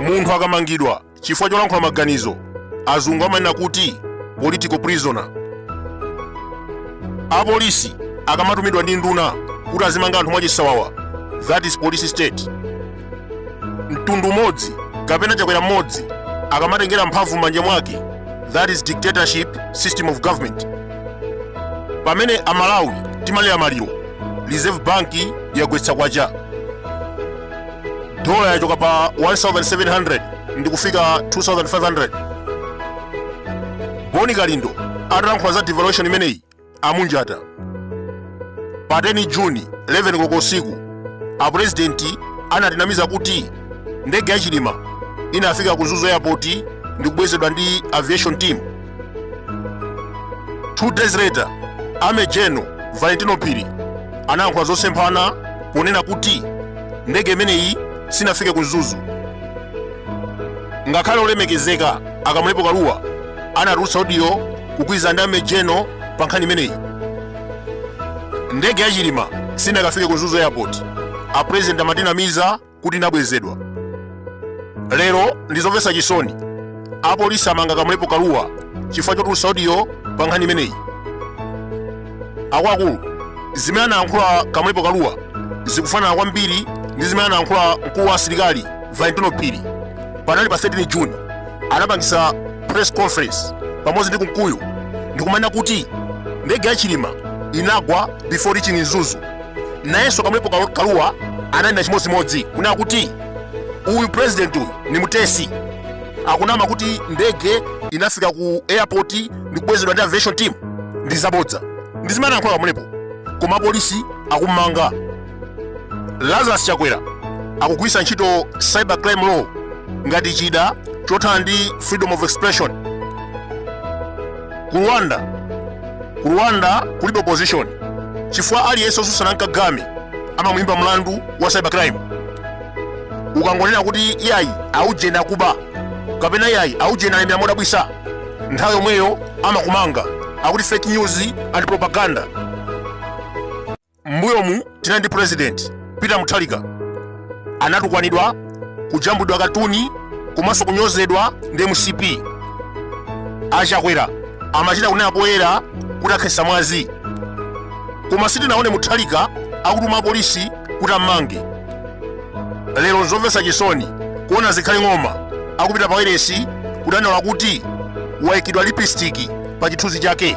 munthu akamangidwa chifukwa cholankhula maganizo azungu amanena kuti political prisoner apolisi akamatumidwa ndi nduna kuti azimanga anthu mwachisawawa that is police state mtundu umodzi kapena chakwera mmodzi akamatengera mphamvu m'manja mwake that is dictatorship system of government pamene amalawi timalira maliro reserve bank yagwetsa kwacha dola yachoka pa 1700 ndikufika 2500 boni kalindo atalankhula za devaluation imeneyi amunjata pa 10 juni 11 koloko usiku apurezidenti anatinamiza kuti ndege ya chilima inafika ku mzuzu airport ndikubwezedwa ndi aviation team two days later army general valentino phiri anayankhula zosemphana ponena kuti ndege imeneyi sinafike ku mzuzu ngakhale olemekezeka a kamlepo kaluwa anatulutsa odiyo kugwirizana ndi army general pa nkhani imeneyi ndege ya chilima sinakafike ku mzuzu airport apurezidenti amatinamiza kuti inabwezedwa lero ndizomvetsa chisoni apolisi amanga kamlepo kaluwa chifukwa chotulutsa odiyo pa nkhani imeneyi akuluakulu zimene anayankhula kamlepo kaluwa zikufanana kwambiri ndi zimene anayankhula mkulu wa asilikali valentino phiri panali pa 13 juni anapangisa press conference pamodzi ndi kunkuyu ndikumanena kuti ndege ya chilima inagwa before reaching mzuzu nayenso kamlepo kaluwa ananena chimodzimodzi kunena kuti uyu president uyu ni mutesi akunama kuti ndege inafika ku airport ndikubwezedwa ndi aviation team ndi zabodza ndi zimene anayankhula kamlepo koma polisi akummanga lazarus chakwera akugwiritsa ntchito cyber crime law ngati chida chothana ndi freedom of expression ku rwanda ku rwanda kulibe opposition chifukwa aliyense otsutsana ndi kagame amamuyimba mlandu wa cyber crime ukangonena kuti iyayi aujeni akuba kapena iyayi aujeni alemera modabwitsa nthawi yomweyo amakumanga akuti fake news and propaganda mbuyomu tinali ndi president peter mutharika anatukwanidwa kujambulidwa katuni komanso kunyozedwa ndi mcp achakwera amachita kunena poyera kuti akhetsa mwazi koma sitinaone mutharika akutuma apolisi kuti ammange lero nzomvetsa chisoni kuona zikhale ng'oma akupita pa wailesi kudandaula kuti waikidwa lipistiki pa chithunzi chake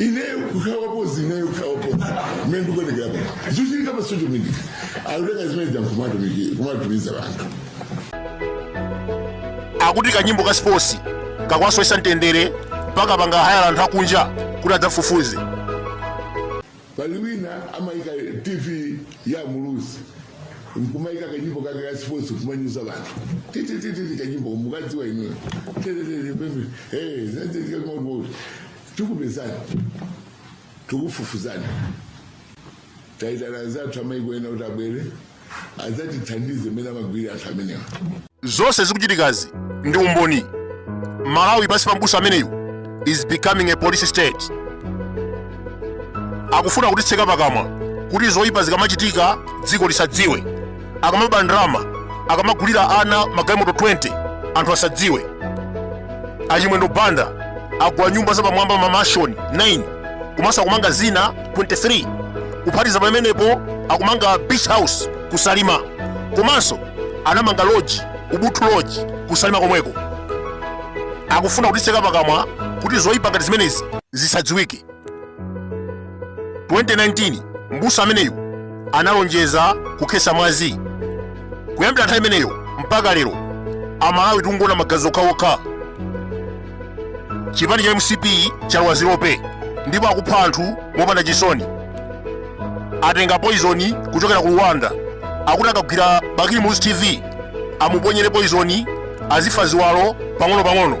ineyo kukhala wapozi ineyo kukhala wapozi mmene ndikuonekera pano zikuchitika pa social media akutenga zimene zankumatumiki kumatumiza anthu akuti kanyimbo ka sports kakuwasowetsa mtendere mpaka panga hayala anthu akunja kuti adzafufuze pali wina amayika tv ya muluzi nkumayika kanyimbo kake ka sports kumanyoza anthu tititititi kanyimbo mukukadziwa inuyo tetetete pembe hey zatetika kumauti tikupezani tikufufuzani taitana anzathu amaiko ena kuti abwere adzatithandize mmene amagwirira anthu amenewa zonse zikuchitikazi ndi umboni malawi pansi pa mbusa ameneyu is becoming a police state akufuna kutitseka pakamwa kuti zoyipa zikamachitika dziko lisadziwe akamaba ndalama akamagulira ana magalimoto 20 anthu asadziwe achimwendo banda agula nyumba zapamwamba mamashoni 9 komanso akumanga zina 23 kuphatiza pamenepo akumanga beach house ku salima komanso anamanga loji ubuntu loji ku salima komweko akufuna kutitseka pakamwa kuti zoyipa ngati zimenezi zisadziwike 2019 mbusa ameneyu analonjeza kukhetsa mwazi kuyambira nthawi imeneyo mpaka lero amalawi tikungoona magazi okhaokha chipani cha mcp chalowa zilope ndipo akupha anthu mopanda chisoni atenga poizoni kuchokera ku rwanda akuti akagwira bakili muluzi tv amuponyere poizoni azifa ziwalo pang'ono pang'ono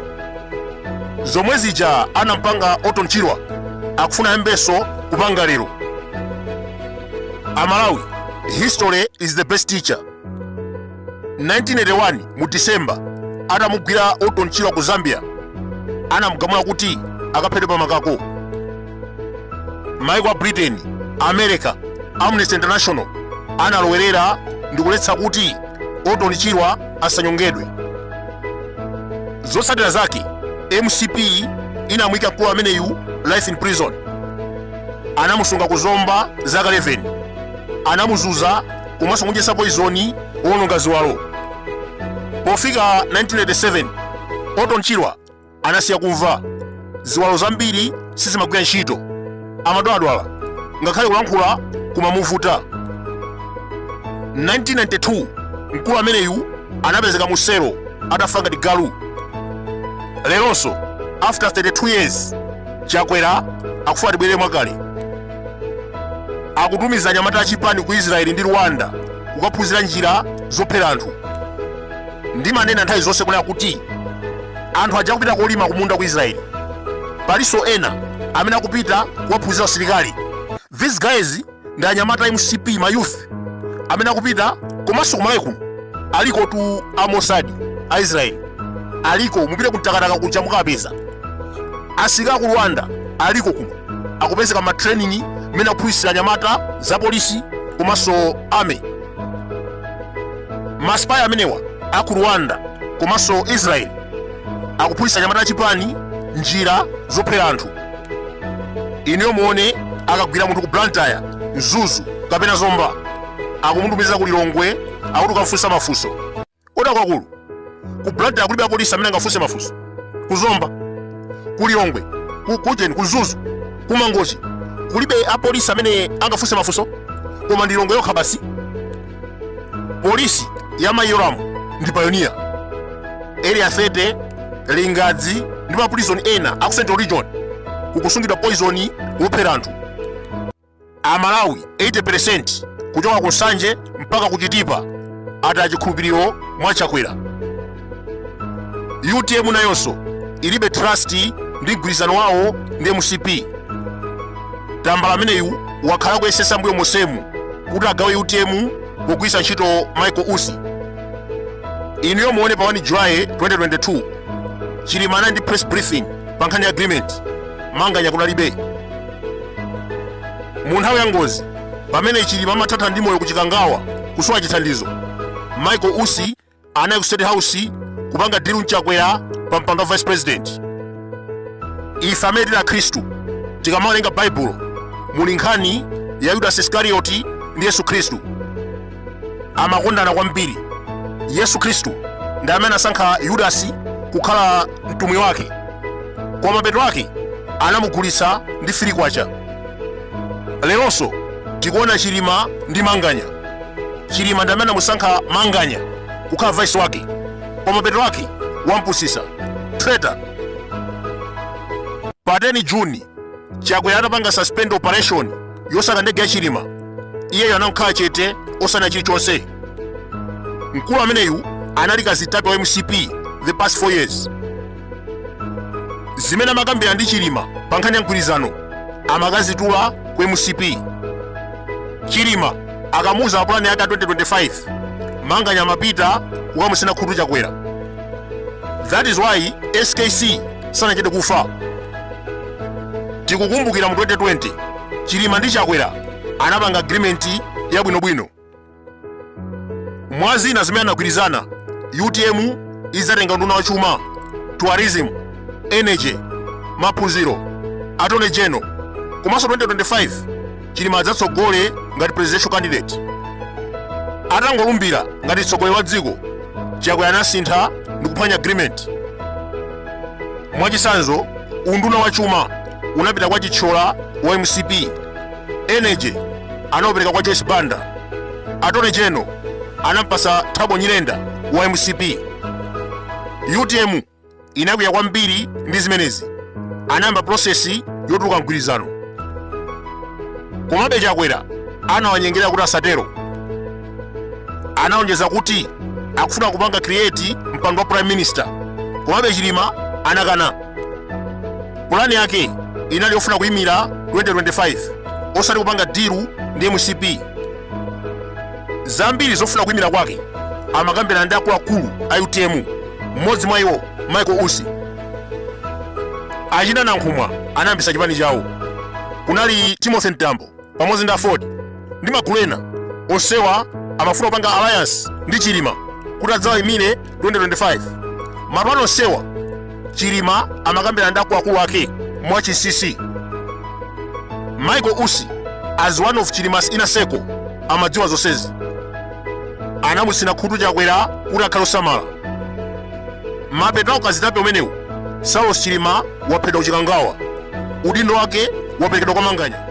zomwe zija anamupanga orton chirwa akufuna ayambenso kupanga lero amalawi history is the best teacher 1981 mu december atamugwira orton chirwa ku zambia anamugamula kuti akaphedwe pamakako maiko a britain america amnesty international analowerera ndikuletsa kuti orton chirwa asanyongedwe zotsatira zake mcp inamuyika mkulu ameneyu life in prison anamusunga ku zomba zaka 11 anamuzunza komanso kumudyetsa poizoni wowononga ziwalo pofika 1987 orton chirwa anasiya kumva ziwalo zambiri sizimagwira ntchito amadwaladwala ngakhale kulankhula kumamuvuta 1992 mkulu ameneyu anapezeka mu selo atafa ngati galu leronso after 32 years chakwera akufuna tibwerere mwakale akutumiza anyamata achipani ku israeli ndi rwanda kukaphunzira njira zophera anthu ndimanena nthawi zonse kunena kuti anthu aja akupita kolima kumunda ku israeli palinso ena amene akupita kukaphunzira usilikali these guys ndi anyamata a mcp ma youth amene akupita komanso kumalawi kuno aliko tu a mossad a israeli aliko mupite ku mtakataka kuja mukapeza asilikali aku rwanda aliko kuno akupezeka ma training mmene akuphunzitsa anyamata za polisi komanso army masipayi amenewa a ku rwanda komanso israel akuphunzitsa anyamata achipani njira zophera anthu inuyo muone akagwira munthu ku blantyre mzuzu kapena zomba akumutumiza ku lilongwe akuti kukamfunsa mafunso Bodza lalikulu. Ku Blantyre kulibe apolisi amene angafunse mafunso. Ku Zomba, ku Lilongwe, kujeni, ku Mzuzu, ku Mangochi kulibe apolisi amene angafunse mafunso koma ndi Lilongwe yokha basi. Polisi ya Mayi Yolamu ndi payoniya. Area 30, Lingadzi ndi maprison ena a ku Central Region kukusungidwa poison wophera anthu. Amalawi 80% kuchoka ku Nsanje mpaka ku Chitipa ataya chikhulupiriro mwa Chakwera. UTM nayonso ilibe trust ndi mgwirizano wawo ndi mcp tambala ameneyu wakhala akuyesetsa mbuyo monsemu kuti agawe utm pogwiritsa ntchito michael usi inuyo muone pa 1 july 2022 chilima ali ndi press briefing pa nkhani ya agreement manganya kunalibe mu nthawi ya ngozi pamene chilima amathatha ndi moyo ku chikangawa kusowa chithandizo michael usi anali ku state house kupanga deal ndi chakwera pa mpando wa vice president ife amene tili akhristu tikamawerenga baibulo muli nkhani ya yudasi iskarioti ndi yesu khristu amakondana kwambiri yesu khristu ndi amene anasankha yudasi kukhala mtumwi wake koma mapeto ake anamugulitsa ndi three kwacha leronso tikuona chilima ndi manganya chilima ndi amene anamusankha manganya kukhala vice wake koma mapeto ake wampusitsa traitor pa 10 june chakwera atapanga suspend operation yosaka ndege ya chilima iyeyo anangokhala chete osanena chilichonse mkulu ameneyu anali kazitape wa mcp the past 4 years zimene amakambira ndi chilima pa nkhani ya mgwirizano amakazitula ku mcp chilima akamuuza za pulani yake ya 2025 manganya amapita kukamutsina khutu chakwera that is why skc sanachite kufa tikukumbukira mu 2020 chilima ndi chakwera anapanga agreement yabwinobwino mwa zina zimene anagwirizana utm idzatenga unduna wa chuma tourism energy maphunziro attorney general komanso 2025 chilima adzatsogole ngati presidential candidate atangolumbira ngati mtsogoleri wa dziko chakwera anasintha ndi kuphwanya agreement mwachitsanzo unduna wa chuma unapita kwa chithyola wa mcp energy anaupereka kwa joyce banda attorney general anampasa thabo nyirenda wa mcp utm inakwiya kwambiri ndi zimenezi anayamba pulosesi yotuluka mu mgwirizano komabe chakwera anawanyengerera kuti asatero analonjeza kuti akufuna kupanga create mpando wa prime minister komabe chilima anakana pulani yake inali yofuna kuyimira 2025 osati kupanga diru ndi mcp zambiri zofuna kuyimira kwake amakambirana ndi akuluakulu a utm mmodzi mwa iwo michael usi achina nankhumwa anayambitsa chipani chawo kunali timothy mtambo pamodzi ndi aford ndi magulu ena onsewa amafuna kupanga alliance ndi chilima kuti adzawayimire 2025 mapulani onsewa chilima amakambirana ndi akuluakulu ake mwa chinsinsi michael usi as one of chilima's inner circle amadziwa zonsezi anamutsina khutu chakwera kuti akhale osamala mapeto a ukazitape umenewu saulos chilima waphedwa ku chikangawa udindo wake waperekedwa kwa manganya